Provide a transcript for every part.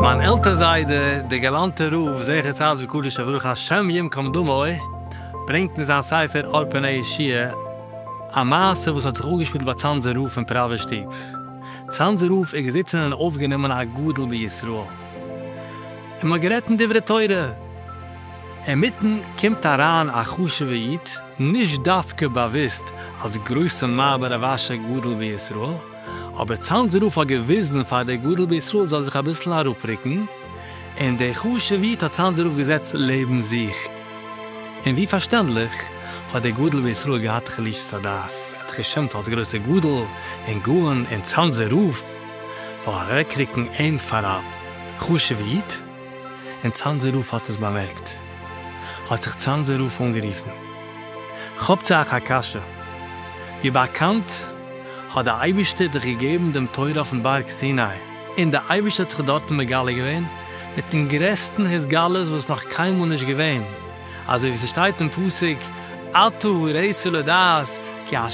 מיין עלטער זיידע דער גאלאנטער רב זכר צדיק וקדוש לברוך השם יום כמדומו ברענגט אין זיין ספר אור פני ישיה א מעשה וואס האט זיך אפגעשפילט ביי צאנזער רב אין פראווער שטוב. צאנזער רב איז געזיצן און אויפגענומען א גדול בישראל. און מ'האט גערעדט אין דברי תורה, אינמיטן קומט אריין א חשוב'ע איד, נישט דווקא באוויסט אלס גרויסע מייבער רב אשר גדל בישראל, אבער צאנז רב האט געוויזן פאר דער גדול בישראל זאל זיך אביסל אראפרוקן, און דער חשוב'ע איד האט צאנז רב געזעצט לעבן זיך, און ווי פארשטענדליך האט דער גדול בישראל געהאט חלישות הדעת, ער האט זיך געשעמט אלס גרויסער גדול און גאון און צאנזער רב. זאל אוועקרוקן אים פאר א חשובע איד, און צאנזער רב האט עס באמערקט, האט זיך צאנזער רב אנגערופן, כאפט זיך אייך א קשיא, ווי באקאנט האט די אייבערשטער דיך געגעבן דעם תורה אויפן בארג סיני, און די אייבערשטער האט זיך דארטן מגלה געווען מיטן גרעסטן התגלות וואס נאך קיינמאל נישט געווען, אזוי ווי ס'שטייט אין פסוק, אתה הראיתו לדעת כי ה'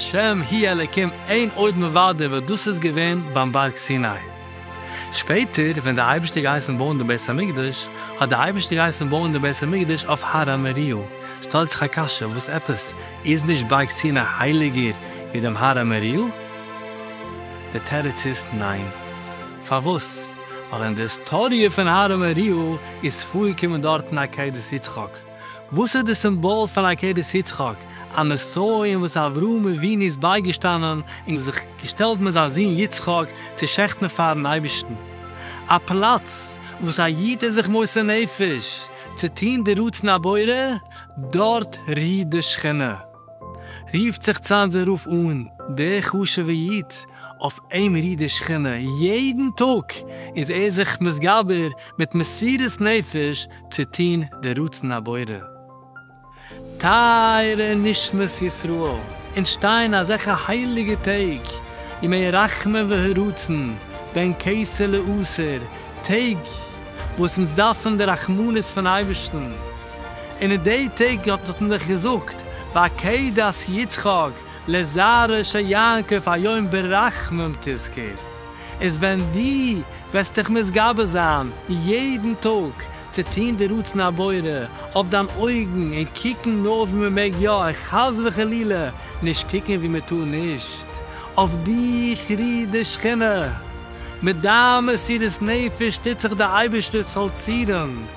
הי' אלקים אין עוד מבדו וואס דאס איז געווען ביים בארג סיני. שפעטער ווען דער אייבערשטער האט געהייסן בויען דעם בית המקדש, האט דער אייבערשטער געהייסן בויען דעם בית המקדש אויף הר המוריה. שטעלט זיך א קשיא, וואס עפעס, איז נישט בארג סיני הייליגער ווי דעם הר המוריה? דער תירוץ איז, ניין. פארוואס? ווייל אין די היסטאריע פון אהרן ארי' איז פארגעקומען דארטן א עקדת יצחק. וואס איז די סימבאל פון עקדת יצחק? א נסיון אין וואס אברהם אבינו איז בייגעשטאנען און זיך געשטעלט מיט זיין זון יצחק צו שעכטן פארן אייבערשטן. א פלאץ וואס א איד איז זיך מוסר נפש צו טון די רצון הבורא, דארט רוהט די שכינה. רופֿט זיך צײַט זײ רוף אָן דער חשובֿער ייִד אױף אים רי דער שכינה. יעדן טאָג איז ער זיך מסגבר מיט מסירת נפֿש צו טאָן דער רצון הבורא. טײַערע נשמות ישׂראל, אונדז שטײען אַזעלכע הײליקע טעג, ימי רחמים והרצון, בין כּסה לעשׂר, טעג װאָס אונדז דאַרפֿן די רחמנות פֿון אײבערשטן, און אין די טעג האט האט מען דאך געזאגט ועקדת יצחק לזרע של יעקב היום ברחמים תזכור, איז ווען דו וועסט דיך מתגבר זיין יעדן טאג צו טון די רצון הבורא אויף דיין אויגן און קוקן נאר ווי מען מעג יא און חס וחלילה נישט קוקן ווי מען טאר נישט, אויף דיך רוהט די שכינה, מיט דיין מסירות נפש טוט זיך די אייבערשטער'ס פאלצירונג.